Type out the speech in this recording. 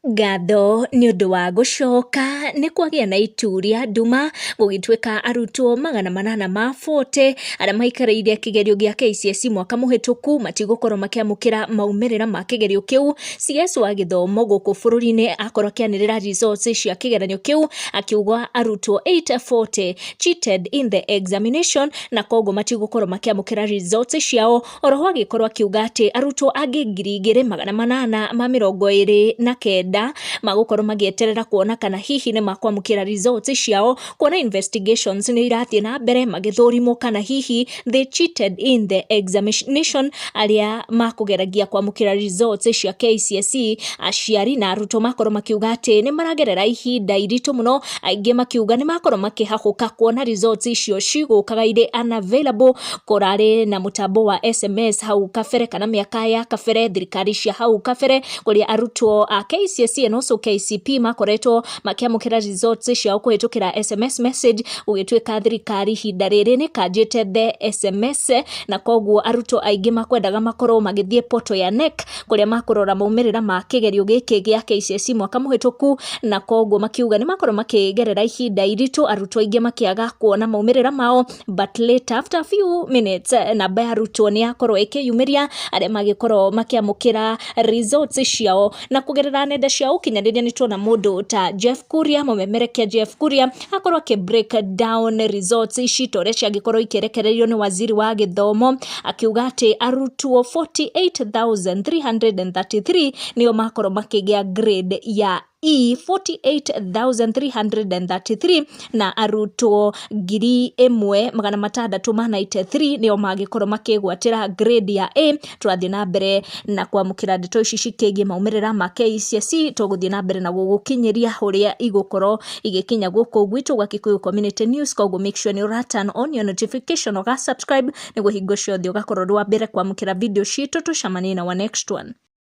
Ngatho nĩ ũndũ wa gũcoka nĩ kwagĩa na itu rĩa nduma, gũgĩtuĩka arutwo magana manana ma bote, arĩa maikarĩire kĩgerio gĩa KCSE mwaka mũhĩtũku, matigũkorwo makĩamũkĩra maumĩrĩra ma kĩgerio kĩu. CS wa gĩthomo gũkũ bũrũri-inĩ akorwo akĩanĩrĩra results cia kĩgeranio kĩu, akiuga arutwo eight forty cheated in the examination na koguo matigũkorwo makĩamũkĩra results ciao, Oroho agĩkorwo akiuga atĩ arutwo angĩ ngiri igĩrĩ magana manana ma mĩrongo ĩrĩ na kenda magũkorwo magĩeterera kuona kana hihi nĩ makwamũkĩra results ciao kuona investigations nĩ irathiĩ na mbere magĩthũrimwo kana hihi they cheated in the examination arĩa makũgeragia kwamũkĩra results cia KCSE aciari na arutwo makorwo makiuga atĩ nĩ maragerera ihinda iritũ mũno aingĩ makiuga nĩ makorwo makĩhahũka kuona results icio cigũkaga irĩ unavailable kũrarĩ na mũtambo wa SMS hau kabere kana mĩaka ya kabere thirikari cia hau kabere kũrĩa arutwo a KCSE and also KCP makoretwo makĩamũkĩra results ciao kũhĩtũkĩra SMS message gũgĩtuĩka thirikari ihinda rĩrĩ nĩ kanjĩte the SMS na koguo arutwo aingĩ makwendaga makorwo magĩthiĩ portal ya NEC kũrĩa makũrora maumĩrĩra ma kĩgerio gĩkĩ gĩa KCSE mwaka mũhĩtũku na koguo makiuga nĩ makorwo makĩgerera ihinda iritũ arutwo aingĩ makĩaga kuona maumĩrĩra mao but later after few minutes eh, namba ya rutwo nĩ yakorwo ĩkĩyumĩria arĩa magĩkorwo makĩamũkĩra results ciao na kũgerera nenda cia ũkinyanĩria nĩ tuona mũndũ ta Jeff Kuria mũmemerekia Jeff Kuria akorwo akĩ break down results ici ta ũrĩa ciangĩkorwo ikĩrekererio nĩ waziri wa gĩthomo akiuga atĩ arutwo 48333 nĩo makorwo makĩgĩa grade ya i 48,333 na arutwo ngiri ĩmwe magana matandatũ ma 93 nĩo mangĩkorwo makĩgwatĩra grade ya A. Twathiĩ na mbere na kwamũkĩra ndeto ici cikĩgiĩ maumĩrĩra ma KCSE, tũgũthiĩ na mbere na gũgũkinyĩria ũrĩa igũkorwo igĩkinya gũkũ gwitũ gwa Kikuyu Community News, koguo make sure nĩ ũra turn on your notification, ũga subscribe nĩguo hingo ciothe ũgakorwo ũrĩ wa mbere kwamũkĩra video citũ. Tũcemanie in our next one.